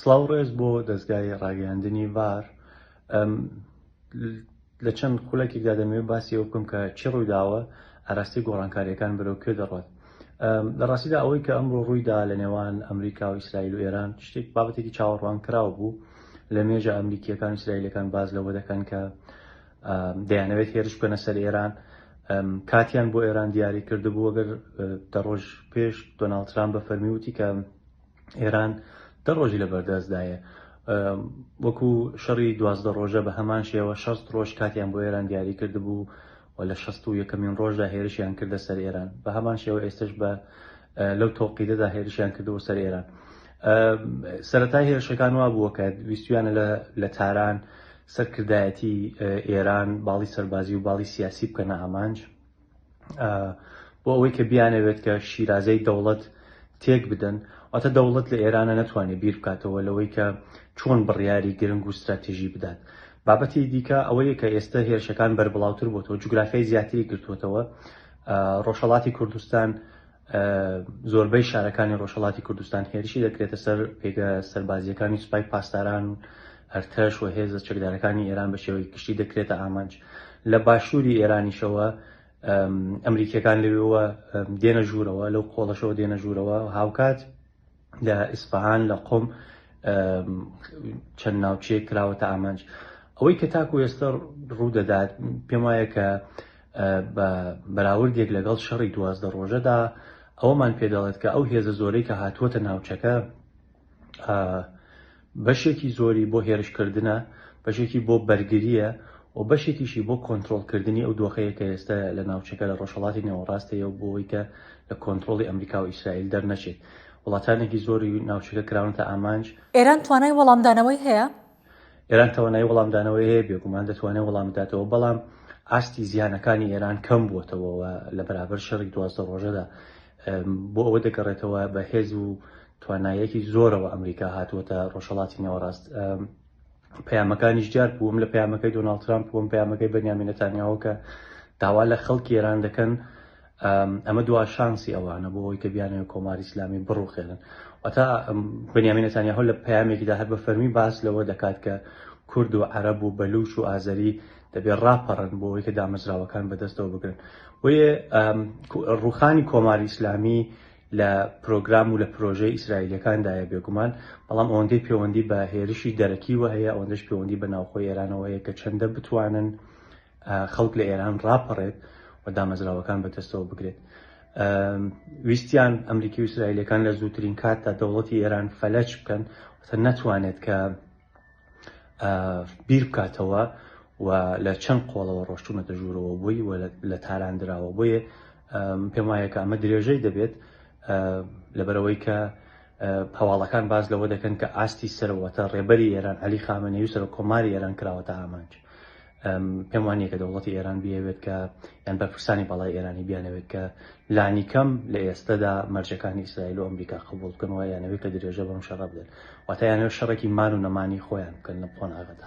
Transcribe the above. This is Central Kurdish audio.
سڵاو و ڕێز بۆ دەزگای ڕاگەیاندنی ڤار لە چەند خولەکێکدا دەمەوێت باسی ئەو بکەم کە چی ڕوویداوە ئاراستی گۆڕانکاریەکان بەرەو کوێ دەڕۆت لە ڕاستیدا ئەوەی کە ئەمڕۆ ڕوویدا لە نێوان ئەمریکا و ئیسرائیل و ئێران شتێک بابەتێکی چاوەڕوان کراوە بوو لە مێژە ئەمریکیەکان و ئیسرائیلەکان باز لەوە دەکەن کە دەیانەوێت هێرش بکەنە سەر ئێران کاتیان بۆ ئێران دیاری کردبوو ئەگەر دە ڕۆژ پێش دۆناڵد ترامپ بە فەرمی وتی کە ئێران دە ڕۆژی لە بەردەستدایە وەکو شەڕی دوازدە ڕۆژە بە هەمان شێوە شەست ڕۆژ کاتیان بۆ ئێران دیاری کردبوو و لە شەست و یەکەمین ڕۆژدا هێرشیان کردە سەر ئێران بە هەمان شێوە ئێستش بە لەو تۆقیدەدا هێرشیان کردەوە سەر ئێران سەرەتای هێرشەکان وا بووە کە ویستویانە لە تاران سەرکردایەتی ئێران باڵی سەربازی و باڵی سیاسی بکەنە ئامانج بۆ ئەوەی کە بیانەوێت کە شیرازەی دەوڵەت تێک بدەن واتە دەوڵەت لە ئێرانە نەتوانێت بیر بکاتەوە لەوەی کە چۆن بڕیاری گرنگ و استراتیژی بدات بابەتی دیکە ئەوەیە کە ئێستا هێرشەکان بەربڵاوتر بۆتەوە جوگرافیای زیاتری گرتوتەوە ڕۆژهڵاتی کوردستان زۆربەی شارەکانی ڕۆژهەڵاتی کوردستان هێرشی دەکرێتە سەر پێگە سەربازیەکانی سوپای پاسداران و ئەرتەش و هێزە چەکدارەکانی ئێران بە شێوەی گشتی دەکرێتە ئامانج لە باشووری ئێرانیشەوە ئەمریکیەکان لەوێوە دێنە ژوورەوە لەو قۆڵەشەوە دێنە ژوورەوە هاوکات لە ئیسپەهان لە قۆم چەند ناوچەیە کراوەتە ئامانج ئەوەی کە تاکو ئێستا ڕوودەدات پێم وایە کە بە بەراوردێک لەگەڵ شەڕی دوازدە ڕۆژەدا ئەومان پێدەڵێت کە ئەو هێزە زۆرەی کە هاتووەتە ناوچەکە بەشێکی زۆری بۆ هێرشکردنە، بەشێکی بۆ بەرگرییە و بەشێکیشی بۆ کۆنترۆڵکردنی ئەو دۆخەیە کە ئێستە لە ناوچەکە لە ڕۆژهەڵاتی نێوەڕاست هەیە و بۆ ئەوەی کە لە کۆنترۆڵی ئەمریکا و ئیسرائیل دەرنەچێت، وڵاتانێکی زۆری ناوچەکە کراونەتە ئامانج. ئێران توانای وەڵامدانەوەی هەیە؟ ئێران توانای وەڵامدانەوەی هەیە، بێگومان دەتوانێت وەڵام بداتەوە، بەڵام ئاستی زیانەکانی ئێران کەم بووەتەوە و لە بەرابەر شەڕی دوازدە ڕۆژەدا بۆ ئەوە دەگەڕێتەوە بە هێز و توانایەکی زۆرەوە ئەمریکا هاتووەتە ڕۆژهڵاتی نێوەڕاست پەیامەکانیش جار بووم لە پەیامەکەی دۆناڵد ترامپ بووم پەیامەکەی بەنیامینە تانیاوەکە داوا لە خەڵکی ئێران دەکەن ئەمە دوا شانسی ئەوانە بۆ ئەوی کە بیانەوە کۆماری ئسلامی بڕوخێنن ئەتا بنیامین نتانیاهۆ لە پامێکیدا هەر بە فەرمی باس لەوە دەکات کە کورد و عرب و بەلوش و ئازەری دەبێت ڕاپەڕن بۆ ئەوی کە دامەزراوەکان بەدەستەوە بگرن بۆیە ڕوخانی کۆماری ئیسلامی لە پرۆگرام و لە پرۆژەی ئیسرائیلیەکاندایە بێگومان، بەڵام ئەوەندەی پێوەندی بە هێرشی دەرەکیوە هەیە ئەوەندەش پێوەندی بە ناوخۆی ئێرانەوە هەیە کە چەندە بتوانن خەڵک لە ئێران ڕاپەڕێت و دامەزراوەکان بەدەستەوە بگرێت. ویستیان ئەمریکی و ئیسرائیلەکان لە زووترین کاتدا دەوڵەتی ئێران فەلەچ بکەن نەتوانێت کە بیر بکاتەوە و لە چەند قۆڵەوە ڕۆشتونەتە ژوورەوە بۆی و لە تاران دراوە بۆیە پێم وایە کە ئەمە درێژەی دەبێت لەبەرەوەی کە هەواڵەکان باز لەوە دەکەن کە ئاستی سەرەوەتە ڕێبەری ئێران علی خامەنەی و سەر کۆماری ئێران کراوەتە ئامانج پێم وانیە کە دەوڵەتی ئێران بیاوێت کە یان بەرپرسانی باڵای ئێرانی بیانەوێت کە لانیکەم لە ئێستادا مەرجەکانی ئیسرائیل و ئەمریکا قبول بکەن وە یانەوێت کە درێژە بەم شەڕ بدەن واتە یانەوە شەڕێکی مان و نەمانی خۆیان بکەن لە قۆناغەدا.